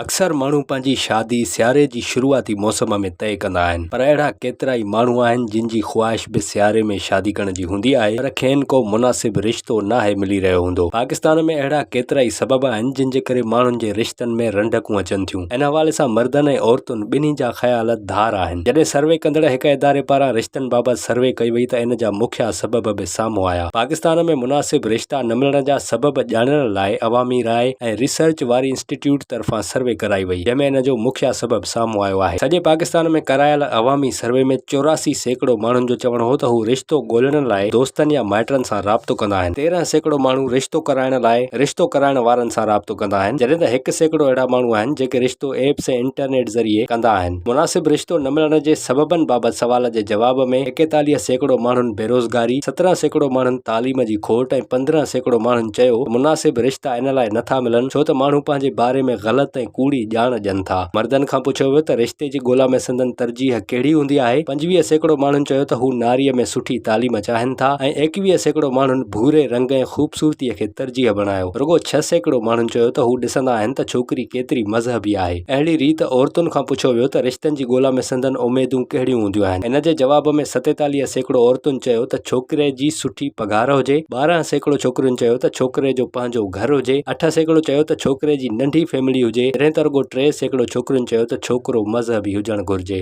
اڪثر ماڻهو پنهنجي شادي سياري جي شروعاتي موسم ۾ طئي ڪندا آهن پر اهڙا ڪيترائي ماڻهو آهن جن جي خواهش به سياري ۾ شادي ڪرڻ جي هوندي آهي پر کين ڪو مناسب رشتو ناهي ملي رهيو هوندو پاڪستان ۾ اهڙا ڪيترائي سبب آهن جن جي ڪري ماڻهن جي رشتن ۾ رنڊڪون اچن ٿيون ان حوالي سان مردن ۽ عورتن ٻنهي جا خيال ڌار آهن جڏهن سروي ڪندڙ هڪ اداري پاران رشتن بابت سروي ڪئي وئي ته ان جا مکيه سبب به سامهون آيا. پاڪستان ۾ مناسب رشتا نه ملڻ جا سبب ڄاڻڻ لاء عوامي راء ۽ ريسرچ واري انسٽيٽيوٽ طرفان سروي ڪرائي وئي جنهن ۾ ان جو مکيه سبب سامهون آيو آهي. سڄي پاڪستان ۾ ڪرايل عوامي سروي ۾ چوراسي سيڪڙو ماڻهن جو چوڻ هو ته هو رشتو ڳولڻ لاء دوستن يا مائٽن سان رابطو ڪندا آهن، تيرهن سيڪڙو ماڻهو رشتو ڪرائڻ لاء رشتو ڪرائڻ وارن سان رابطو ڪندا آهن، جڏهن ته هڪ سيڪڙو اهڙا ماڻهو آهن جيڪي رشتو ايپس ۽ انٽرنيٽ ذريعي ڪندا آهن. مناسب رشتو نه ملڻ جي سببن بابت سوال جي جواب ۾ ايڪيتاليهه سيڪڙو ماڻهن بيروزگاري، سترهن سيڪڙو ماڻهن تعليم جي کوٽ ۽ پندرهن سيڪڙو ماڻهن چيو ته مناسب رشتا ان لاء نه ٿا ملن ڇو ته ماڻهو پنهنجي باري ۾ غلط ۽ ڪوڙي ڄاڻ ڏين ٿا. مردن کان پڇيو ويو ته رشتي جي ڳولا ۾ سندن ترجيح ڪهڙي هوندي آهي؟ پنجويهه سيڪڙو ماڻهن چيو ته هو ناريء ۾ سٺي تعليم چاهين ٿا ۽ ايڪويهه سيڪڙو ماڻهن ڀوري رنگ ۽ خوبصورتيء کي ترجيح بڻايو. رڳو ڇهه سيڪڙو ماڻهن چيو ته هو ڏسندا آهن ته ڇوڪري ڪيتري مذهبي آهي. اهڙي ريت عورتن کان پڇيو ويو ته رشتن جي ڳولا ۾ سندن اميدون ڪهڙيون هونديون آهن. ان جي جواب ۾ ستيتاليهه سيڪڙو عورتن چيو ته ڇوڪري جي سٺي پگهار هجي، ٻارهن سيڪڙو ڇوڪرين چيو ته ڇوڪري جو پنهنجو گهر هجي، اٺ سيڪڙو چيو ته ڇوڪري جي ننڍي فيملي هجي، جڏهن ته رڳو ٽي سيڪڙو ڇوڪرين چيو ته ڇوڪرو مذهبي هجڻ گهرجي.